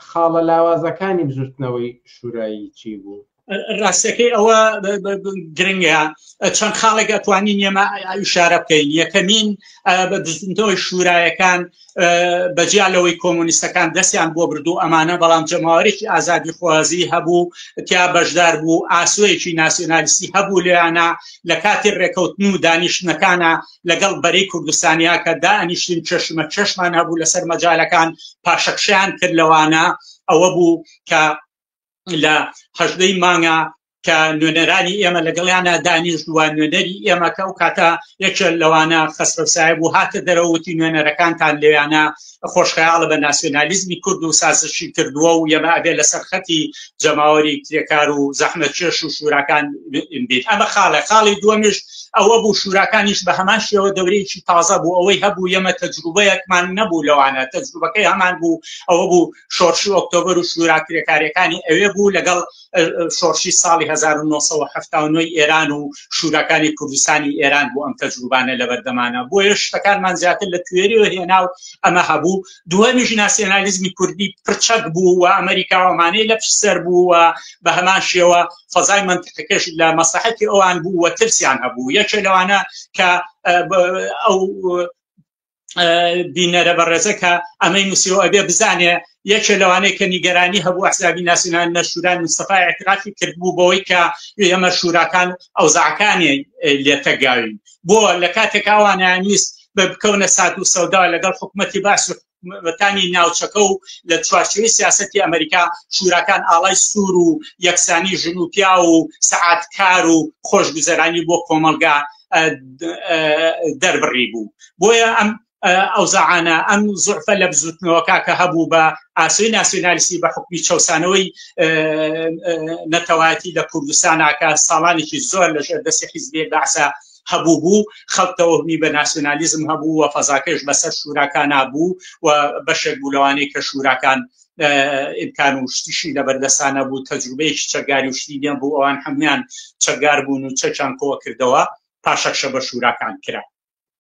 خاڵە لاوازەکانی بزوتنەوەی شورایی چی بوو؟ ڕاستەکەی ئەوە گرنگە چەند خاڵێک ئەتوانین ئێمە شارە بکەین یەکەمین بە بزنەوەی شورایەکان بەجیا لەوەی کۆمۆنیستەکان دەستیان بۆ بردو ئەمانە بەڵام جەماوەێکی ئازادی خوازی هەبوو تیا بەشدار بوو ئاسوەیەکی ناسیۆنالیستی هەبوو لەیانە لە کاتی ڕێکەوتن و دانیشتنەکانە لەگەڵ بەرەی کوردستانیاکە دانیشتین چشمە چشمان هەبوو لەسەر مەجالەکان پاشەکشیان کرد لەوانە ئەوە بوو کە لە هەژدەی مانگە کە نوێنەرانی ئێمە لەگەڵیانە دانیشتووە نوێنەری ئێمەکە و کاتە یەکێ لەوانە خەسرەسای بوو هاتە دەرەوتی نوێنەرەکانتان لەویانە خۆشخەیاڵە بە ناسیۆنالیزمی کورد و سازشی کردووە و یەمە ئەبێ لە سەرخەتی جەماوەری کرێکار و زەحمە چێش و شوراکان بێت ئەمە خاڵە خاڵی دووەمیش ئەوە بوو شوراکانیش بە هەمان شێوە دەورەیەکی تازە بوو ئەوەی هەبوو یەمە تەجروبەیەکمان نەبوو لەوانە تەجروبەکەی هەمان بوو ئەوە بوو شۆرشی ئۆکتۆبر و شورا کرێکارەکانی ئەوێ بوو لەگەڵ شۆرشی ساڵی 1970 ئێران و شوراکانی کوردستانی ئێران بۆ ئەم تەجروبانە لە بەردەمانە بۆیە شتەکانمان زیاتر لە توێری و هێنا و ئەمە هەبوو دووەمیش ناسیۆنالیزمی کوردی پرچەک بوو و ئەمریکاوەمانەی لە پشسەر بوو و بە هەمان شێوە فەزای منتقەکەش لە مەسلحەتی ئەوان بوو وە ترسیان هەبوو یەکێ لەوانە کە ئەو بینەرە بەڕێزە کە ئەمەی نووسیەوە ئەبێ بزانێ یەکێ لەوانەیە کە نیگەرانی هەبوو ئەحزابی ناسیونان نەشوران مستەفای اعترافی کردبوو بەوەی کە ئێمە شوراکان ئەوزاکانی لێتەگاوین بۆ لە کاتێک ئەوانیان ویست بە بکەونە سات و سەودا لەگەڵ حکوومەتی باس و وەتانی ناوچەکە و لە چوارچوی سیاستی ئەمریکا شوراکان ئاڵای سوور و یەکسانی ژن و پیا و سعاتکار و خۆشگوزەرانی بۆ کۆمەلگا دەربڕی بوو بۆیە ئەم ئەو زعانە ئەم زعفە لە بزوتنەوەکە کە هەبوو بە ئاسوی ناسیۆنالیستی بە حکومی چەسانەوەی نەتەواتی لە کوردستاناکە ساڵانێکی زۆر لە ژێر دەستی حیزبێک بەعسا هەبوو بوو خەڵتەوەمی بە ناسیۆنالیزم هەبوو و فەزاکەش بەسەر شوراکان نبوو و بەشێک بوو لەوانەیە کە شوراکان ئیمکان و شتیشی لە بەردەسانە بوو تەجروبەیەکی چەکداری و شتی دێن بوو ئەوان هەمویان چەکدار بوون و چەکیان کۆکردەوە پاشەکشە بە شوراکان کرا